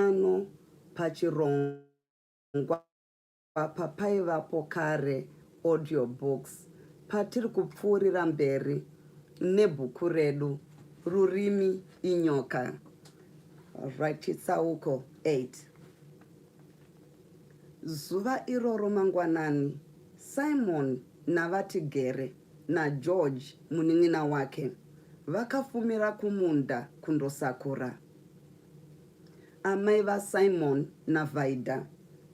pano pachirongwa papaivapo kare audio books patiri kupfuurira mberi nebhuku redu rurimi inyoka rachitsauko 8 zuva iroro mangwanani simon navatigere nageorge munin'ina wake vakafumira kumunda kundosakura Amai vaSimon naVaida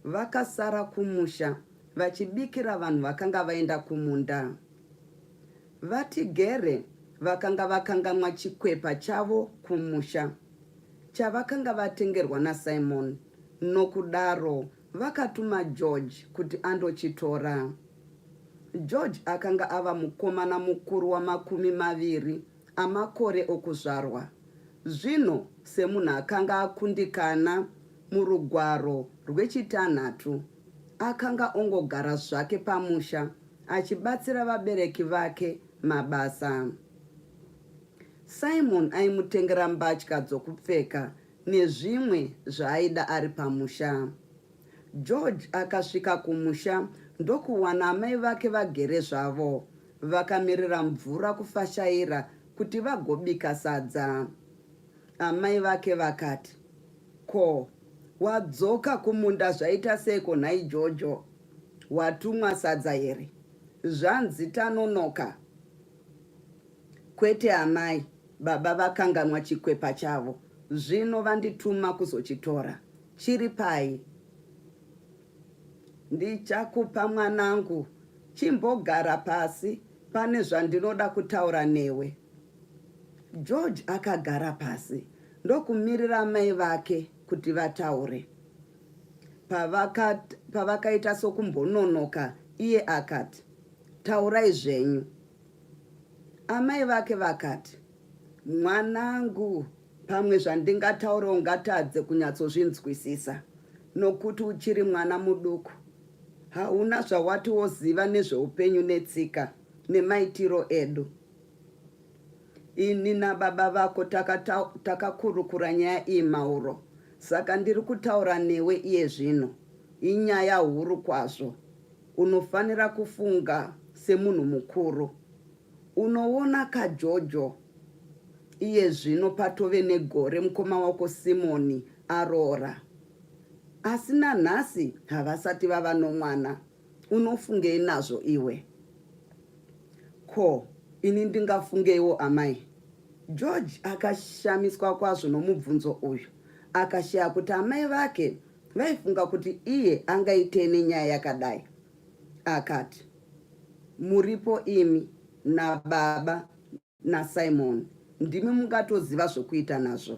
vakasara kumusha vachibikira vanhu vakanga vaenda kumunda. VaTigere vakanga vakangamwa chikwepa chavo kumusha chavakanga vatengerwa naSimon nokudaro vakatuma George kuti andochitora. George akanga ava mukomana mukuru wamakumi maviri amakore okuzvarwa, zvino semunhu akanga akundikana murugwaro rwechitanhatu, akanga ongogara zvake pamusha achibatsira vabereki vake mabasa. Simon aimutengera mbatya dzokupfeka nezvimwe zvaaida ari pamusha. George akasvika kumusha ndokuwana amai vake vagere zvavo Vakamirira mvura kufashaira kuti vagobika sadza. Amai vake vakati, Ko, wadzoka kumunda zvaita seiko nhai Jojo? Watumwa sadza here? Zvanzi tanonoka. Kwete amai, baba vakanganwa chikwepa chavo. Zvino vandituma kuzochitora. Chiri pai? Ndichakupa mwanangu, chimbogara pasi, pane zvandinoda kutaura newe. George akagara pasi ndokumirira mai vake kuti vataure. Pavakaita pavaka sokumbononoka iye akati, taurai zvenyu. Amai vake vakati, Mwanangu, pamwe zvandingataura ungatadze kunyatsozvinzwisisa nokuti uchiri mwana muduku. Hauna zvawati woziva nezveupenyu netsika nemaitiro edu. Ini nababa vako takakurukura taka nyaya iyi mauro, saka ndiri kutaura newe iye zvino. Inyaya huru kwazvo. Unofanira kufunga semunhu mukuru. Unoona ka Jojo iye zvino patove negore mukoma wako Simoni aroora asi nanhasi havasati vava nomwana unofungei nazvo iwe? Ko ini ndingafungeiwo amai? George akashamiswa kwazvo nomubvunzo uyu akashaya kuti amai vake vaifunga kuti iye angaitei nenyaya yakadai. akati, Muripo imi nababa naSimon, ndimi mungatoziva zvokuita nazvo.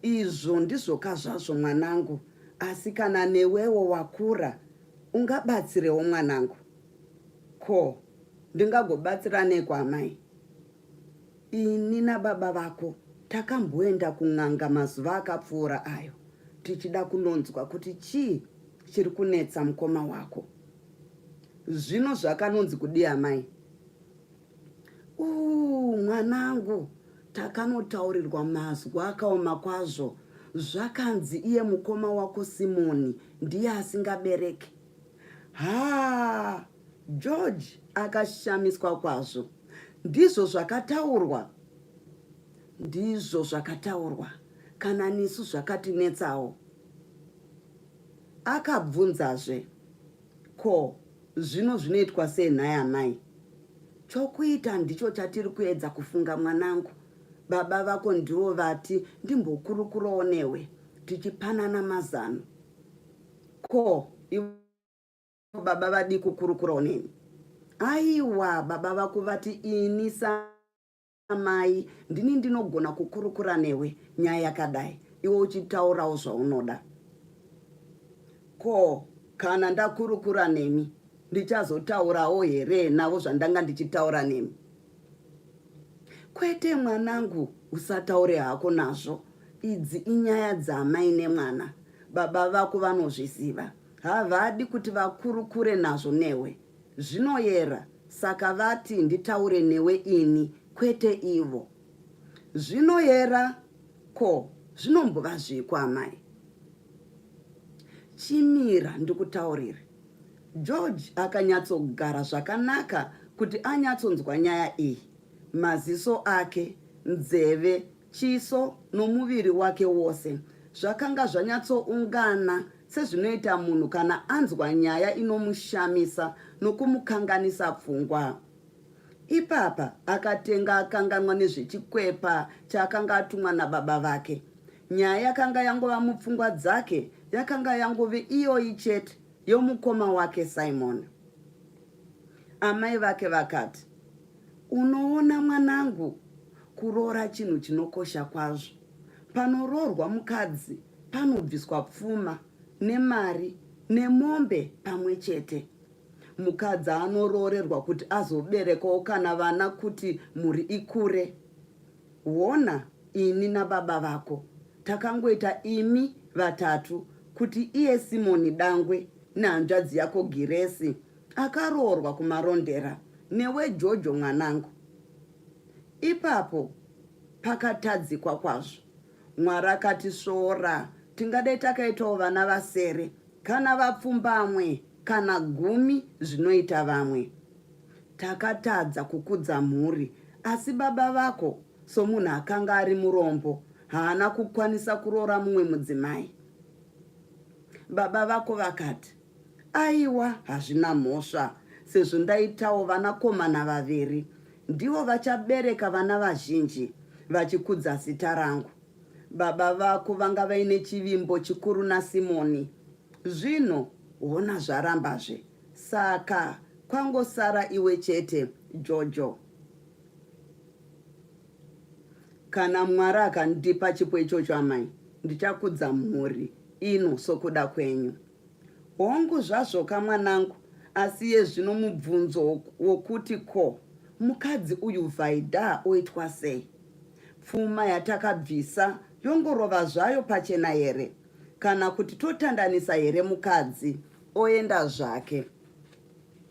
Izvo ndizvoka zvazvo mwanangu, asi kana newewo wakura ungabatsirewo mwanangu. Ko, ndingagobatsira neiko amai? Ini nababa vako takamboenda kun'anga mazuva akapfuura ayo tichida kunonzwa kuti chii chiri kunetsa mukoma wako. Zvino zvakanonzi kudii amai? Uuu mwanangu, takanotaurirwa mazwi akaoma kwazvo zvakanzi iye mukoma wako Simoni ndiye asingabereki. Haa! George akashamiswa kwazvo. Ndizvo zvakataurwa, ndizvo zvakataurwa, kana nisu zvakatinetsawo. Akabvunzazve, ko zvino zvinoitwa sei nhai amai? Chokuita ndicho chatiri kuedza kufunga mwanangu. Baba vako ndivo vati ndimbokurukurawo newe tichipanana mazano. Ko ivo baba vadii kukurukurawo neni aiwa baba vako vati ini samai ndini ndinogona kukurukura newe nyaya yakadai iwe uchitaurawo zvaunoda ko kana ndakurukura nemi ndichazotaurawo here navo zvandanga ndichitaura nemi kwete mwanangu usataure hako nazvo idzi inyaya dzamai nemwana baba vako vanozviziva Havadi kuti vakurukure nazvo newe. Zvinoyera saka vati nditaure newe ini kwete ivo. Zvinoyera ko zvinombova zviiko amai? Chimira ndikutaurire. George akanyatsogara zvakanaka kuti anyatsonzwa nyaya iyi. Maziso ake, nzeve Chiso nomuviri wake wose zvakanga zvanyatsoungana sezvinoita munhu kana anzwa nyaya inomushamisa nokumukanganisa pfungwa. Ipapa akatenga akanganwa nezvechikwepa chaakanga atumwa nababa vake. Nyaya yakanga yangova mupfungwa dzake yakanga yangove iyoyi chete yomukoma wake Simon. Amai vake vakati, Unoona mwanangu, kuroora chinhu chinokosha kwazvo. Panoroorwa mukadzi panobviswa pfuma nemari nemombe pamwe chete. Mukadzi anoroorerwa kuti azoberekawo kana vana kuti mhuri ikure. Hona ini nababa vako takangoita imi vatatu kuti iye Simoni Dangwe nehanzvadzi yako Giresi Akaroorwa kumarondera newe Jojo mwanangu. Ipapo pakatadzikwa kwazvo. Mwari akati svora tingadai takaitawo vana vasere kana vapfumbamwe kana gumi zvinoita vamwe. Takatadza kukudza mhuri asi baba vako somunhu akanga ari murombo haana kukwanisa kuroora mumwe mudzimai. Baba vako vakati Aiwa hazvina mhosva sezvo ndaitawo vanakomana vaviri ndivo vachabereka vana vazhinji vachikudza zita rangu. Baba vako vanga vaine chivimbo chikuru naSimoni. Zvino hona zvarambazve. Saka kwangosara iwe chete, Jojo. Kana Mwari akandipa chipo ichocho amai, ndichakudza mhuri ino sokuda kwenyu. Hongu zvazvoka mwanangu asi iye zvino mubvunzo wokuti ko mukadzi uyu Vaida oitwa sei? Pfuma yatakabvisa yongorova zvayo pachena here kana kuti totandanisa here mukadzi oenda zvake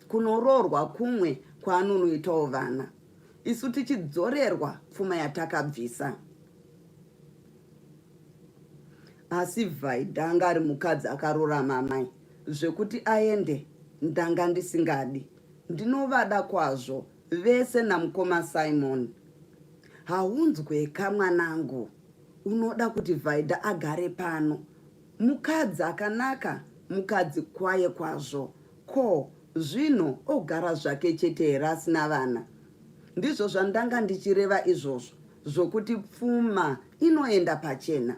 kunoroorwa kumwe kwaanonoitawo vana isu tichidzorerwa pfuma yatakabvisa? asi vhaidha anga ari mukadzi akarurama amai zvekuti aende ndanga ndisingadi ndinovada kwazvo vese namukoma simon haunzweka mwanangu unoda kuti vhaidha agare pano mukadzi akanaka mukadzi kwaye kwazvo Ko zvino ogara zvake chete here asina vana? Ndizvo zvandanga ndichireva izvozvo zvokuti pfuma inoenda pachena.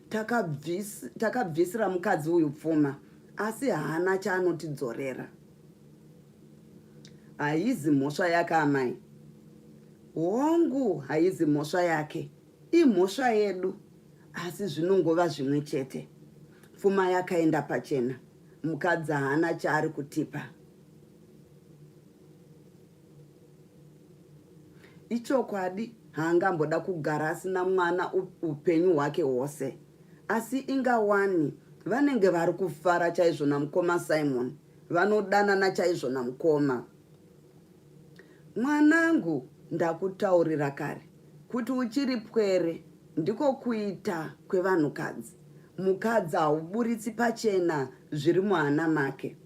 Takabvis, takabvisira mukadzi uyu pfuma asi haana chaanotidzorera. Haizi mhosva yake amai. Hongu haizi mhosva yake, imhosva yedu asi zvinongova zvimwe chete. Pfuma yakaenda pachena. mukadzi haana chaari kutipa ichokwadi haangamboda kugara asina mwana upenyu hwake hwose asi inga wani vanenge vari kufara chaizvo namukoma simon vanodanana chaizvo namukoma Mwanangu ndakutaurira kare kuti uchiri pwere ndiko kuita kwevanhukadzi. Mukadzi hauburitsi pachena zviri muhana make.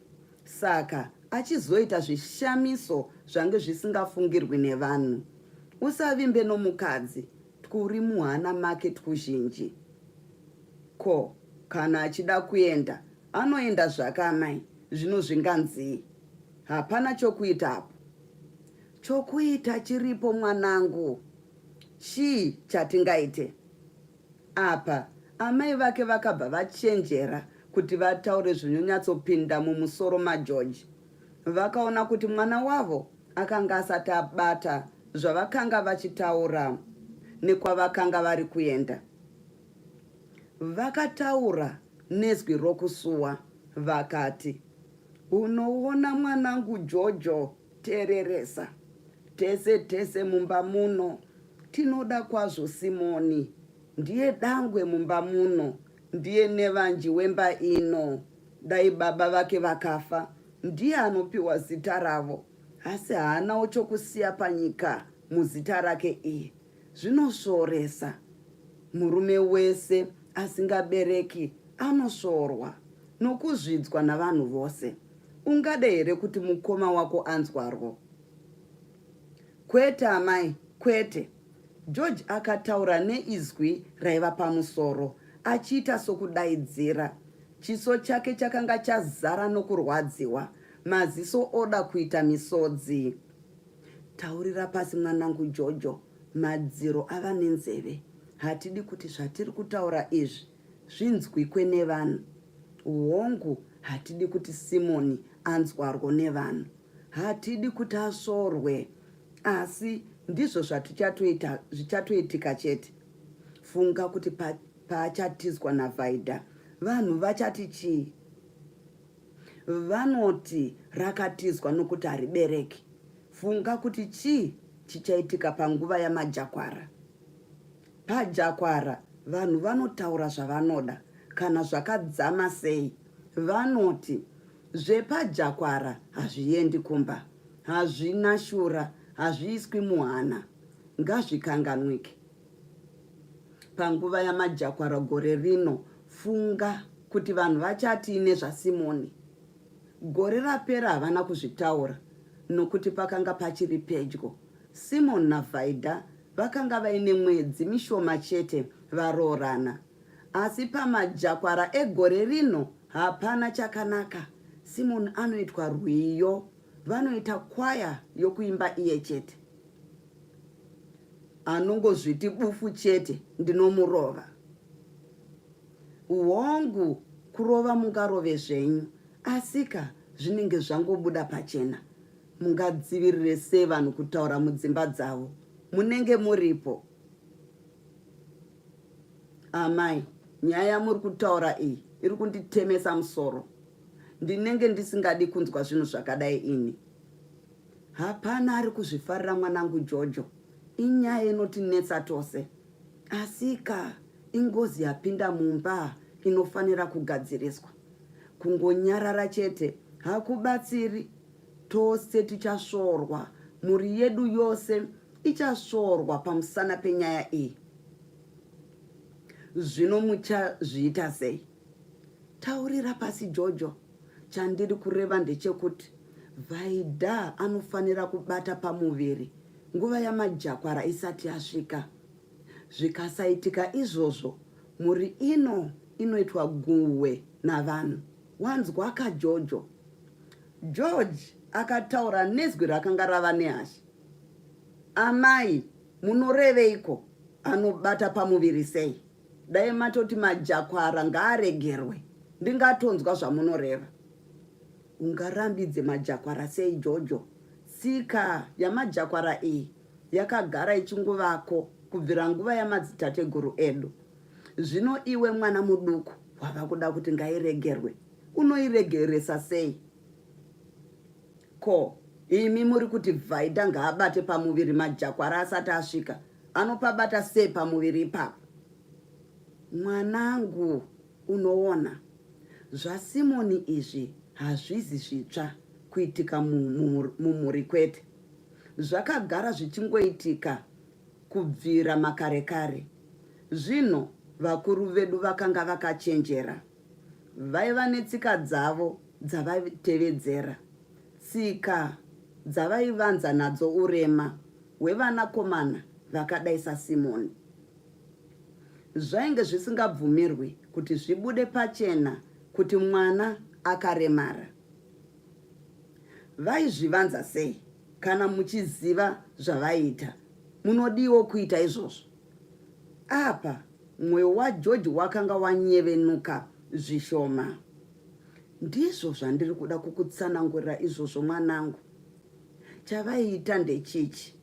Saka achizoita zvishamiso zvange zvisingafungirwi nevanhu. Usavimbe nomukadzi twuri muhana make twuzhinji. Ko kana achida kuenda anoenda zvake amai zvino zvinganzii? Hapana chokuita apo. Chokuita chiripo mwanangu. Chii chatingaite? Apa amai vake vakabva vachenjera kuti vataure zvinonyatsopinda mumusoro mageorge vakaona kuti mwana wavo akanga asati abata zvavakanga vachitaura nekwavakanga vari kuenda vakataura nezwi rokusuwa vakati Unoona mwanangu Jojo tereresa tese tese mumba muno tinoda kwazvo Simoni ndiye dangwe mumba muno ndiye nevanji wemba ino dai baba vake vakafa ndiye anopiwa zita ravo asi haanawo chokusiya panyika muzita rake iye Zvinosvoresa. Murume wese asingabereki anosvorwa nokuzvidzwa navanhu vose. Ungade here kuti mukoma wako anzwarwo? Kwete amai, kwete. George akataura neizwi raiva pamusoro, achiita sokudaidzira. Chiso chake chakanga chazara nokurwadziwa, maziso oda kuita misodzi. Taurira pasi mwanangu Jojo, madziro ava nenzeve. Hatidi kuti zvatiri kutaura izvi zvinzwikwe nevanhu. Hongu, hatidi kuti Simoni anzwarwo nevanhu. Hatidi kuti asvorwe. Asi ndizvo zvatichatoita zvichatoitika chete. Funga kuti pa, paachatizwa naVhaidha, vanhu vachati chii? Vanoti rakatizwa nokuti haribereki. Funga kuti chii chichaitika panguva yamajakwara. Pajakwara vanhu vanotaura zvavanoda kana zvakadzama sei. Vanoti zvepajakwara hazviendi kumba, hazvina shura, hazviiswi muhana. Ngazvikanganwike. panguva yamajakwara gore rino funga kuti vanhu vachatii nezvasimoni gore rapera havana kuzvitaura nokuti pakanga pachiri pedyo simon navaida vakanga vaine mwedzi mishoma chete varoorana asi pamajakwara egore rino hapana chakanaka simon anoitwa rwiyo vanoita kwaya yokuimba iye chete anongozviti bufu chete ndinomurova hongu kurova mungarove zvenyu asika zvinenge zvangobuda pachena mungadzivirire sei vanhu kutaura mudzimba dzavo munenge muripo amai nyaya yamuri kutaura iyi iri kunditemesa musoro ndinenge ndisingadi kunzwa zvinhu zvakadai ini Hapana ari kuzvifarira mwanangu Jojo. Inyaya inotinetsa tose. Asika ingozi yapinda mumba inofanira kugadziriswa. Kungonyarara chete hakubatsiri. Tose tichasvorwa. Mhuri yedu yose ichasvorwa pamusana penyaya iyi. Zvino muchazviita sei? Taurira pasi Jojo. Chandiri kureva ndechekuti Vaida anofanira kubata pamuviri nguva yamajakwara isati yasvika. Zvikasaitika izvozvo, mhuri ino inoitwa guhwe navanhu. Wanzwa ka Jojo? George akataura nezwi rakanga rava nehasha. Amai, munoreveiko? Anobata pamuviri sei? Dai matoti majakwara ngaaregerwe ndingatonzwa zvamunoreva. Ungarambidze majakwara sei Jojo? Tsika yamajakwara iyi yakagara ichinguvako kubvira nguva yamadzitateguru edu. Zvino iwe mwana muduku wava kuda kuti ngairegerwe. Unoiregeresa sei? Ko imi muri kuti Vhaidha ngaabate pamuviri majakwara asati asvika? anopabata sei pamuviri ipapo mwanangu unoona zvasimoni izvi hazvizi zvitsva kuitika mumhuri kwete zvakagara zvichingoitika kubvira makare kare zvino vakuru vedu vakanga vakachenjera vaiva netsika dzavo dzavaitevedzera Tsika dzavaivanza nadzo urema hwevanakomana vakadai saSimoni zvainge zvisingabvumirwi kuti zvibude pachena kuti mwana akaremara. Vaizvivanza sei? Kana muchiziva zvavaiita, munodiwo kuita izvozvo. Apa mwoyo waJoji wakanga wanyevenuka zvishoma. Ndizvo zvandiri kuda kukutsanangurira izvozvo mwanangu. Chavaiita ndechichi.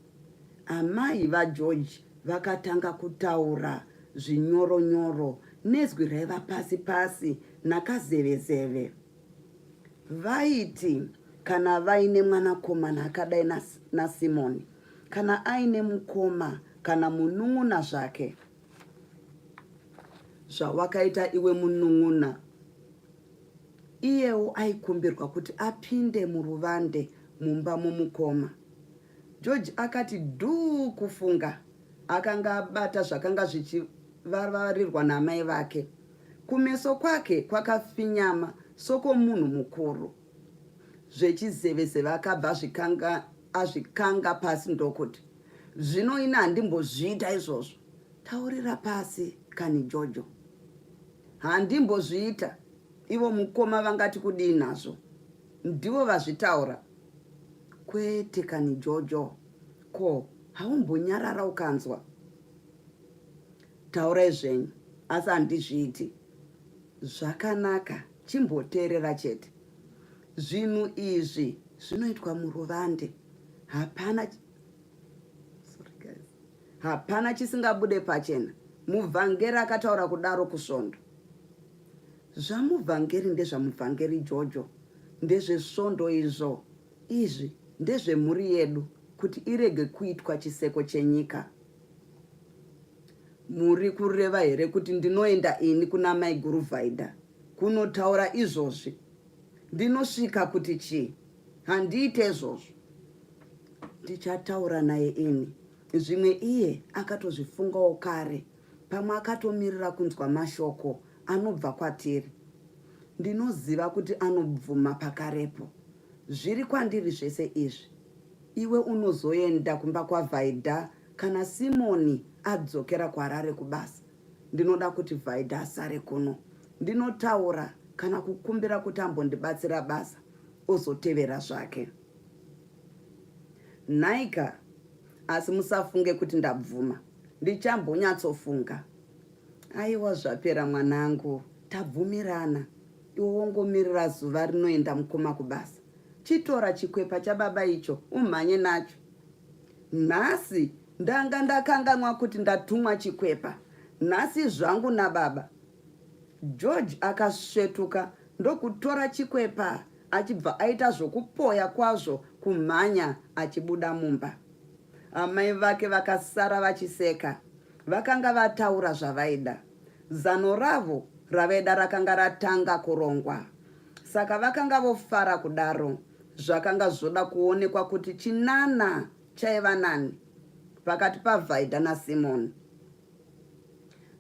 Amai vaGeorge vakatanga kutaura zvinyoro nyoro nezwi raiva pasi pasi nakazevezeve. Vaiti kana vaine mwanakomana akadai naSimoni kana aine mukoma kana munun'una zvake zvawakaita iwe munun'una iyewo aikumbirwa kuti apinde muruvande mumba momukoma george akati dhuu kufunga akanga abata zvakanga zvichivavarirwa naamai vake kumeso kwake kwakafinyama sokomunhu mukuru zvechizevezeve akabva azvikanga pasi ndokuti zvino ini handimbozviita izvozvo taurira pasi kani jojo handimbozviita ivo mukoma vangati kudii nazvo ndivo vazvitaura kwete kani jojo ko haumbonyarara ukanzwa taurai zvenyu asi handizviiti zvakanaka chimboteerera chete zvinhu izvi zvinoitwa muruvande hapana hapana chisingabude pachena muvhangeri akataura kudaro kusvondo zvamuvhangeri ndezvamuvhangeri jojo ndezvesvondo izvo izvi ndezvemhuri yedu kuti irege kuitwa chiseko chenyika muri kureva here kuti ndinoenda ini kuna maiguru vhaidha kunotaura izvozvi ndinosvika kuti chii handiite izvozvo ndichataura naye ini zvimwe iye akatozvifungawo kare pamwe akatomirira kunzwa mashoko anobva kwatiri ndinoziva kuti anobvuma pakarepo zviri kwandiri zvese izvi iwe unozoenda kumba kwavhaidha kana simoni adzokera kwarare kubasa ndinoda kuti vhaidha asare kuno ndinotaura kana kukumbira kuti ambondibatsira basa ozotevera zvake nhaika asi musafunge kuti ndabvuma ndichambonyatsofunga aiwa zvapera mwanangu tabvumirana iwe wongomirira zuva rinoenda mukoma kubasa chitora chikwepa chababa icho umhanye nacho nhasi ndanga ndakanganwa kuti ndatumwa chikwepa nhasi zvangu nababa George akasvetuka ndokutora chikwepa achibva aita zvokupoya kwazvo kumhanya achibuda mumba. Amai vake vakasara vachiseka. Vakanga vataura zvavaida. Zano ravo ravaida rakanga ratanga kurongwa. Saka vakanga vofara kudaro. Zvakanga zvoda kuonekwa kuti chinana chaiva nani pakati paVhaidha naSimoni.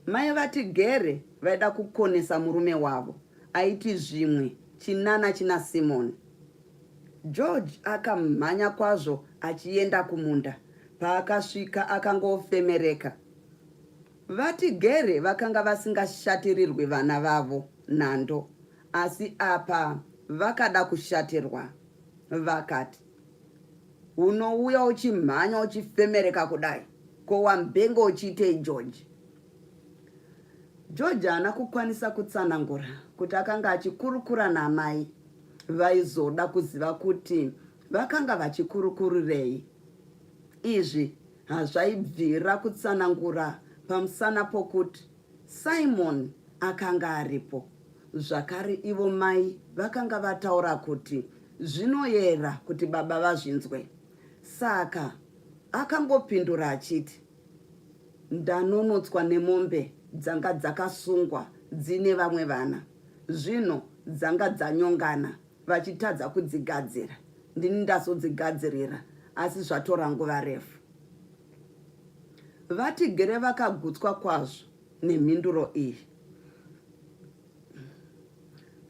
Mai vati Gere vaida kukonesa murume wavo aiti zvimwe chinana china Simon. George akamhanya kwazvo achienda kumunda. Paakasvika akangofemereka. Vati Gere vakanga vasingashatirirwi vana vavo nhando asi apa vakada kushatirwa. Vakati. unouya uchimhanya uchifemereka kudai ko wambenge uchiitei george george haana kukwanisa kutsanangura kuti akanga achikurukura namai vaizoda kuziva kuti vakanga vachikurukurirei izvi hazvaibvira kutsanangura pamusana pokuti Simon akanga aripo zvakare. Ivo mai vakanga vataura kuti zvinoyera kuti baba vazvinzwe, saka akangopindura achiti, Ndanonotswa nemombe dzanga dzakasungwa dzine vamwe vana, zvino dzanga dzanyongana vachitadza kudzigadzira. Ndini ndazodzigadzirira, asi zvatora nguva refu. VaTigere vakagutswa kwazvo nemhinduro iyi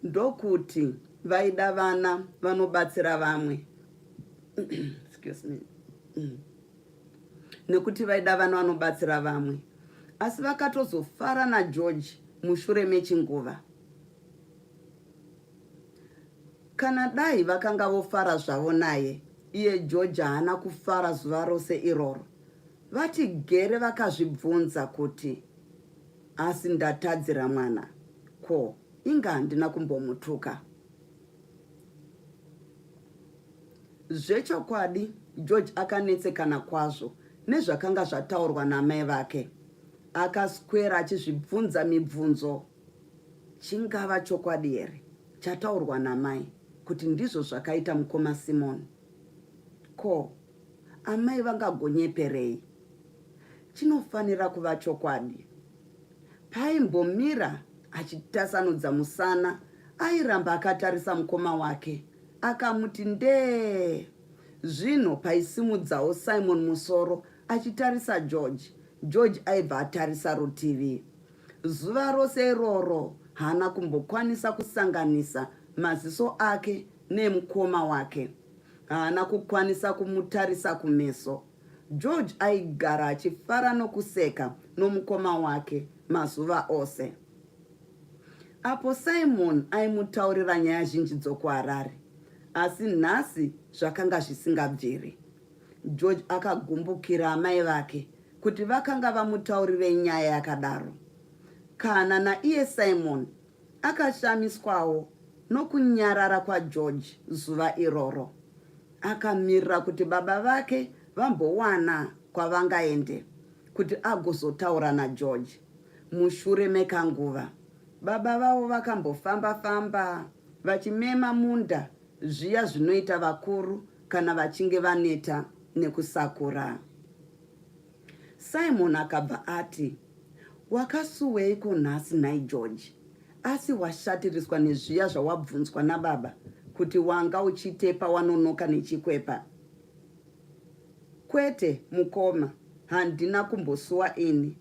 ndokuti vaida vana vanobatsira vamwe excuse me mm. nekuti vaida vana vanobatsira vamwe asi vakatozofara nageorge mushure mechinguva kana dai vakanga vofara zvavo naye iye george haana kufara zuva rose iroro VaChigere vakazvibvunza kuti asi ndatadzira mwana ko inga handina kumbomutuka. Zvechokwadi George akanetsekana kwazvo nezvakanga zvataurwa namai vake. Akaswera achizvibvunza mibvunzo, chingava chokwadi here chataurwa namai kuti ndizvo zvakaita mukoma Simon? Ko Amai vangagonyeperei? Chinofanira kuva chokwadi. Paimbomira achitasanudza musana, airamba akatarisa mukoma wake. Akamuti ndee. Zvino paisimudzawo Simon musoro achitarisa George. George aibva atarisa rutivi. Zuva rose iroro haana kumbokwanisa kusanganisa maziso ake neemukoma wake. haana kukwanisa kumutarisa kumeso. George aigara achifara nokuseka nomukoma wake mazuva ose. Apo Simon aimutaurira nyaya zhinji dzokuHarare, asi nhasi zvakanga zvisingabviri. George akagumbukira amai vake kuti vakanga vamutaurirei nyaya yakadaro. Kana naiye Simon Akashamiswawo nokunyarara kwaGeorge zuva iroro. Akamirira kuti baba vake vambowana kwavangaende kuti agozotaura naGeorge. Mushure mekanguva, baba vavo vakambofamba-famba vachimema munda zviya zvinoita vakuru kana vachinge vaneta nekusakura. Simon akabva ati, Wakasuweiko nhasi nhai George? Asi washatiriswa nezviya zvawabvunzwa nababa kuti wanga uchiitei pawanonoka nechikwepa? Kwete mukoma, handina kumbosuwa ini.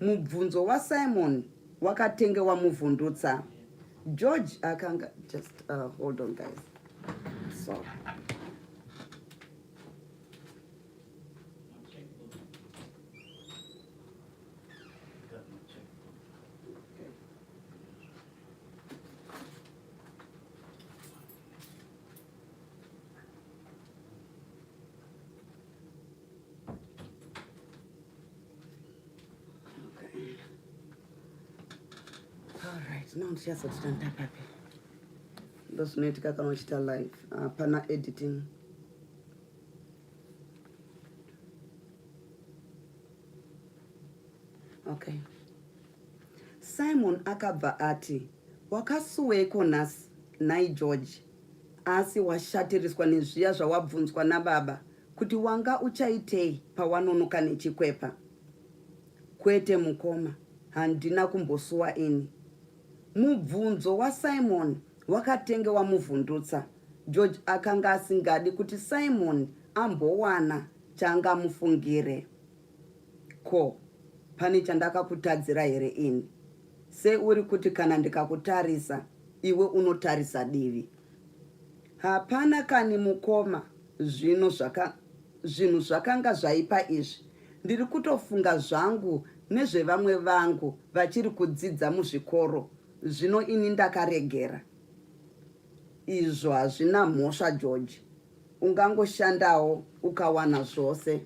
Mubvunzo waSimon wakatenge wamuvhundutsa. George akanga just uh, hold on guys. So ndinoziva papi ndozvinoitika kana uchita live hapana editing okay simon akabva ati wakasuweiko nhasi nhai george asi washatiriswa nezviya zvawabvunzwa nababa kuti wanga uchaitei pawanonoka nechikwepa kwete mukoma handina kumbosuwa ini mubvunzo wasimon wakatenge wamuvhundutsa wa George akanga asingadi kuti Simon ambowana chaangamufungire. Ko, pane chandakakutadzira here ini? Seuri kuti kana ndikakutarisa, iwe unotarisa divi. Hapana kani mukoma, zvino zvaka, zvinhu zvakanga zvaipa izvi. Ndiri kutofunga zvangu nezvevamwe vangu vachiri kudzidza muzvikoro, zvino ini ndakaregera. Izvo hazvina mhosva George. Ungangoshandawo ukawana zvose.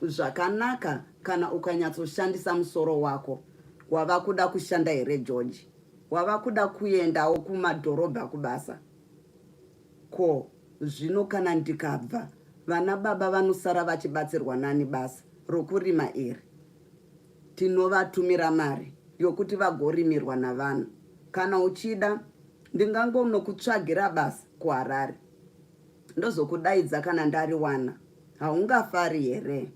Zvakanaka kana ukanyatsoshandisa musoro wako. Wava kuda kushanda here George? Wava kuda kuendawo kumadhorobha kubasa? Ko zvino kana ndikabva vana baba vanosara vachibatsirwa nani basa rokurima iri? Tinovatumira mari yokuti vagorimirwa navanhu. Kana uchida Ndingangonokutsvagira basa kuHarare ndozokudaidza kana ndariwana. Haungafari here?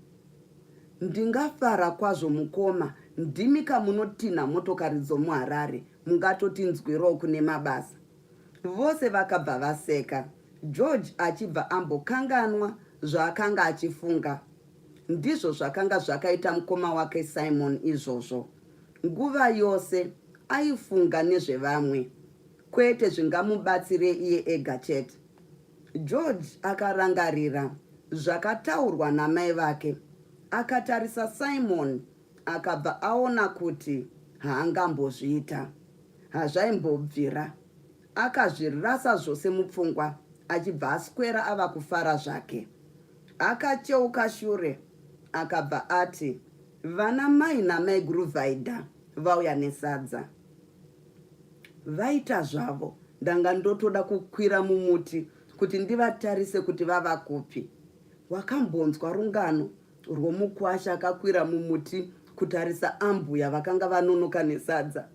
Ndingafara kwazvo mukoma, ndimi kamunotinha motokari dzomuHarare, mungatotinzwirawo kune mabasa. Vose vakabva vaseka, George achibva ambokanganwa zvaakanga achifunga. Ndizvo zvakanga zvakaita mukoma wake Simon izvozvo. Nguva yose aifunga nezvevamwe, kwete zvingamubatsire iye ega chete. George akarangarira zvakataurwa namai vake. Akatarisa Simon akabva aona kuti haangambozviita. Hazvaimbobvira. Akazvirasa zvose mupfungwa achibva aswera ava kufara zvake. Akacheuka shure akabva ati, Vana mai namaiguru vaida vauya nesadza vaita zvavo ndanga ndotoda kukwira mumuti kuti ndivatarise kuti vava kupi wakambonzwa rungano rwomukwasha akakwira mumuti kutarisa ambuya vakanga vanonoka nesadza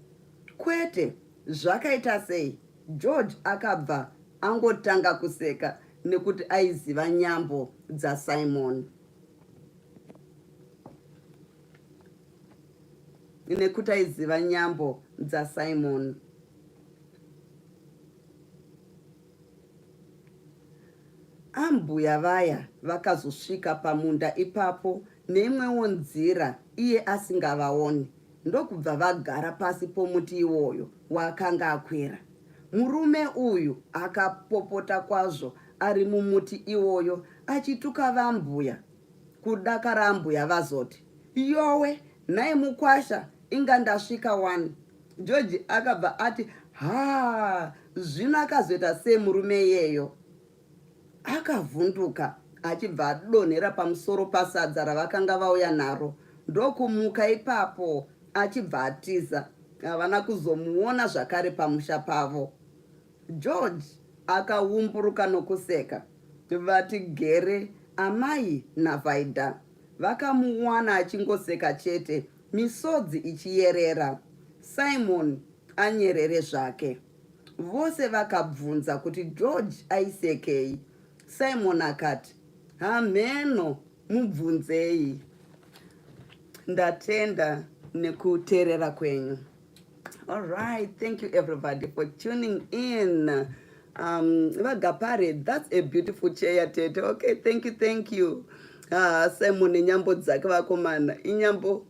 kwete zvakaita sei george akabva angotanga kuseka nekuti aiziva nyambo dzasimon nekuti aiziva nyambo dzasimoni ambuya vaya vakazosvika pamunda ipapo neimwewo nzira iye asingavaoni ndokubva vagara pasi pomuti iwoyo waakanga akwira murume uyu akapopota kwazvo ari mumuti iwoyo achituka vambuya kudakara ambuya vazoti yowe nhai mukwasha inga ndasvika wani george akabva ati haa zvino akazoita sei murume iyeyo akavhunduka achibva adonhera pamusoro pasadza ravakanga vauya naro ndokumuka ipapo achibva atiza havana kuzomuona zvakare pamusha pavo George akawumburuka nokuseka. Vati gere amai naVaida vakamuwana achingoseka chete misodzi ichiyerera. Simon anyerere zvake. Vose vakabvunza kuti George aisekei. Simon akati, hamheno mubvunzei. Ndatenda nekuterera kwenyu. All right, thank you everybody for tuning in. Um, Vagapare, that's a beautiful chair, Tete. Okay, thank you, thank you. Ah, Simon, inyambo dzake vakomana. Inyambo.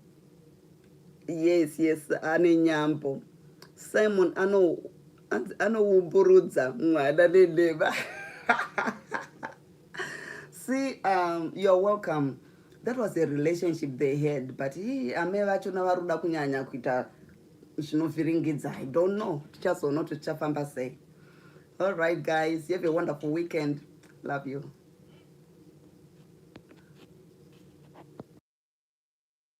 Yes, yes, ane nyambo. Simon ano anoumburudza mwana nenhema. See, um, you're welcome. That was a relationship they had, but he, ame vacho navaruda kunyanya kuita zvinovhiringidza. I don't know. Tichazoona kuti tichafamba sei. All right, guys. You have a wonderful weekend. Love you.